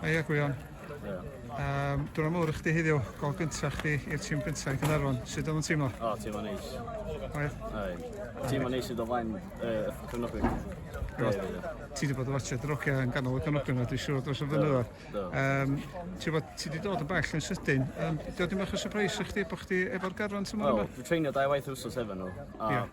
Aia Gwion. Um, Dwi'n amlwg i chdi heddiw, gol gyntaf chdi i'r tîm gyntaf yn Cynarfon. Sut oedd yn teimlo? O, oh, teimlo neis. Oedd? Oedd. Teimlo neis i dy flaen uh, cyfnogwyr. Ti wedi bod yn watcha drogia yn ganol y cyfnogwyr yma, dwi'n siŵr dros y flynyddoedd. Um, ti wedi dod yn bell yn sydyn. Um, Dwi'n ddim eich surprise i chdi bod chdi efo'r garfan tymor yma? Wel, dwi'n treinio dau waith wrsos efo nhw. A yeah.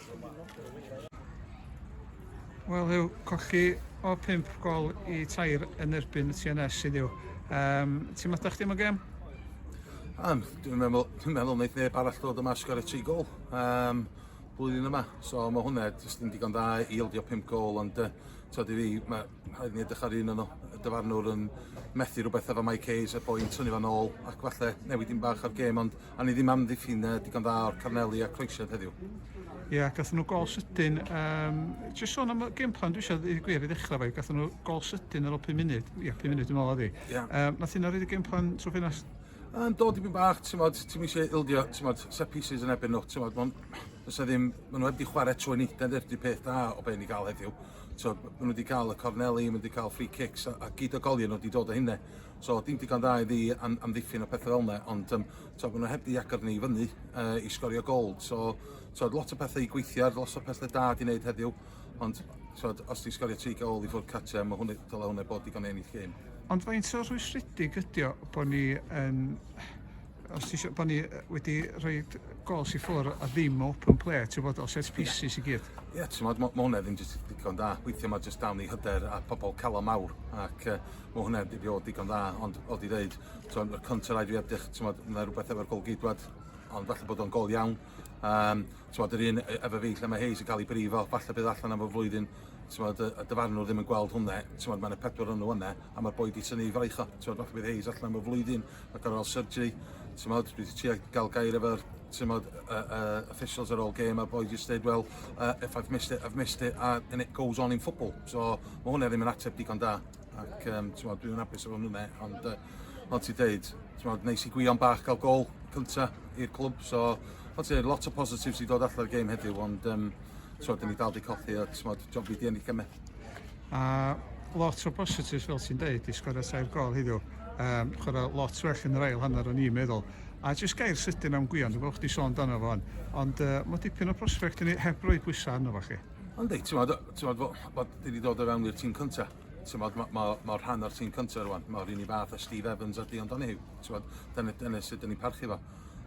Wel yw colli o 5 gol i tair yn erbyn y TNS sydd yw. Um, ti'n meddwl chdi am y gem? Um, dwi'n meddwl, dwi'n meddwl wneud neb arall dod yma sgor y tri gol um, blwyddyn yma. So mae hwnna jyst yn digon da i ildio 5 gol ond uh, tyd i fi, mae rhaid ni edrych ar un o'n y dyfarnwr yn methu rhywbeth efo Mike Hayes a boi'n tynnu fan ôl ac falle newid un bach ar gêm ond a ni ddim am ddiffyn uh, digon dda o'r Carneli a Croesiad heddiw. Ie, yeah, gathen nhw gol sydyn. Um, Jyst sôn am y game plan, dwi eisiau dweud gwir i ddechrau fe, gathen nhw gol sydyn ar ôl 5 munud, ie, yeah, 5 munud dwi'n meddwl oedd hi. Yeah. Um, nath hynna rhaid y game plan trwy ffinas? Um, do, dipyn bach, ti'n modd, ti'n eisiau ildio, ti'n modd, set pieces yn ebyn nhw, ti'n modd, fysa ddim, maen nhw heb di chwarae trwy nid, dyna'r peth da o be ni gael heddiw. So, maen nhw wedi cael y corneli, maen nhw wedi cael free kicks, a, a gyd o golion nhw wedi dod o hynne. So, dim digon da iddi am, amddiffyn o pethau fel yna, ond um, so, maen nhw heb di agor ni i fyny uh, i sgorio gol. So, so, lot o pethau i gweithio ar, lot o pethau da di wneud heddiw, ond so, os ti'n sgorio tri gol i ffwrdd cartre, mae hwnna, dyla hwnna bod digon ennill gêm. Ond faint o rhwystredig ydy o bod ni yn Os ti isio bod ni yy wedi rhoi gols i ffwr a ddim open play ti'n bod o set pieces i gyd. Ie yeah, ti'n modd ma' hwnna ddim jyst digon da. Weithio mae jyst dawn i hyder a pobl calon mawr ac uh, mae hwnna wedi bod digon dda ond o di ddeud ti'n modd contra rhaid fi edrych ti'n modd mae rhywbeth efo'r gol gydwad ond falle bod o'n gol iawn. Um, ti'n modd yr un e, efo fi lle mae Hayes yn cael ei brifo, falle bydd allan am y flwyddyn ti'n modd y, y dyfarnwr ddim yn gweld hwnna, ti'n modd mae'n y pedwar o'n nhw yna a mae'r boi di sy'n ei fraich o, ti'n modd falle bydd Hayes allan am y flwyddyn a gorfod cael surgery, ti'n modd, dwi wedi trio gael gair efo'r ti'n modd, uh, uh, officials ar ôl game a boi just dweud, well, uh, if I've missed it, I've missed it, a, and it goes on in football. So mae hwnna ddim yn ateb digon da, ac um, ti'n modd, dwi'n apus efo hwnna, ond uh, ond ti'n dweud, ti'n modd, neis i gwion bach gael gol cynta i'r clwb, so ond ti'n lot o positives i dod allan o'r game heddiw, ond um, ti'n modd, dyn ni dal di cothi, a ti'n modd, job fi di ennill gymau. A lot o positives fel ti'n deud i sgorio tair gol heddiw. Um, chwarae lot well yn yr ail hanner o'n i'n meddwl. A jyst gair sydyn am Gwion, dwi'n gwybod chdi sôn dan o fo'n, ond uh, mae dipyn o prospect yn ei heb roi pwysau arno fo chi. Ond dweud, ti'n modd, ti'n modd, bod wedi dod o fewn i'r tîm cynta. Ti'n modd, mae ma, ma rhan o'r tîm cynta rwan. Mae'r un i fath a Steve Evans a Dion Donahue. Ti'n modd, dyna, dyna sydd dyn ni'n parchu fo.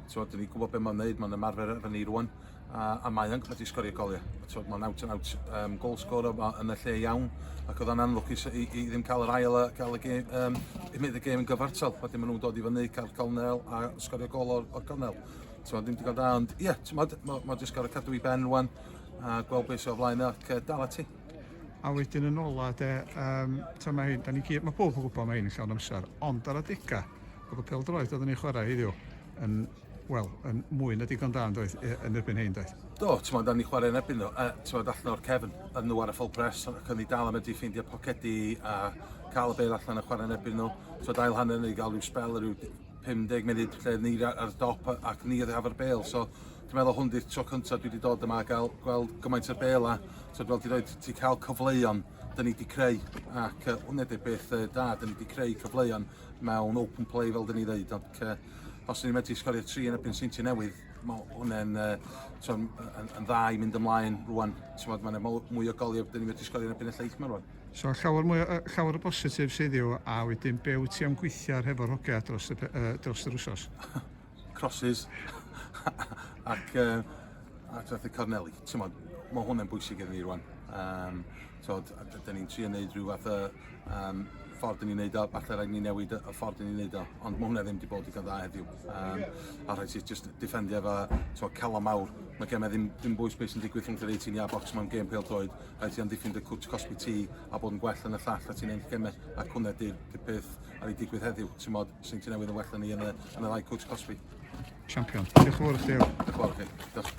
Ti'n modd, dyn ni'n gwybod beth mae'n neud, mae'n ymarfer efo ni rwan. a, a mae yn wedi sgorio goliau. Tywed, mae'n out and out um, goal scorer yn y lle iawn, ac oedd yn anlwcus i, i, ddim cael yr ail a cael y gêm, um, i mynd y gêm yn gyfartal, pan maen nhw'n dod i fyny, cael cornel a sgorio gol o'r, or cornel. Tywed, ddim digon da, ond ie, yeah, mae ma, ma jyst gorau cadw i ben rwan, a gweld beth sy'n o flaen ac uh, dal ati. A wedyn yn ola, de, um, ta mae hyn, da ni gyd, mae pob yn gwybod mae hyn yn llawn amser, ond ar adega, oedd y peldroed oedd yn ei chwarae heddiw, yn Wel, yn mwy na digon da, doedd, yn erbyn hyn, doedd? Do, ti'n modd, da ni chwarae yn erbyn nhw, uh, ti'n modd, allan o'r cefn, yn nhw ar y full press, ac o'n i dal am edrych ffeindio pocedi a cael y beir allan a chwarae yn erbyn nhw. Ti'n modd, ail hanner ni gael rhyw spel, rhyw 50 munud lle ni ar dop ac ni ar efo'r bel, so dwi'n meddwl hwn di'r tro cyntaf dwi wedi dod yma a gael gweld gymaint o'r bel a so, fel ti'n dweud, ti'n cael cyfleuon dyn ni wedi creu ac uh, hwnna di'r beth uh, da, dyn ni wedi creu cyfleuon mewn open play fel dyn ni ddeud ac uh, os ni'n medru sgorio tri yn y pyn seinti newydd mae hwnna'n uh, yn, yn dda i mynd ymlaen rwan ti'n mae'n mwy o goliau dyn ni'n medru sgorio yn y pyn y lleith mae rwan So llawer, mwy, uh, llawer o bositif sydd yw a wedyn be wyt ti am gweithio ar hefo'r hogia dros y, uh, dros yr wsos? crosses ac uh, a trethu corneli. T'mod, mae hwnna'n bwysig iddyn ni rwan. Um, t'mod, da ni'n trio wneud rhyw fath o um, ffordd ni'n neud o, falle rhaid ni newid y ffordd ni'n neud o, ond mae hwnna ddim wedi bod i dda heddiw. Um, a rhaid sy'n just defendio efo t'mod, calon mawr. Mae gemau ddim, ddim bwys beth sy'n digwydd rhwng yr 18 i a box mewn gêm pêl droed. Rhaid sy'n amddiffyn dy cwt cosbi ti a bod yn gwell yn y llall a ti'n ennill gemau. Ac hwnna di'r peth ar ei digwydd heddiw. T'mod, Swn ti newydd yn well na ni yn y, yn y ddau coach cosbi. Champion. Diolch yn fawr i chdi. Diolch yn fawr i chi. Diolch.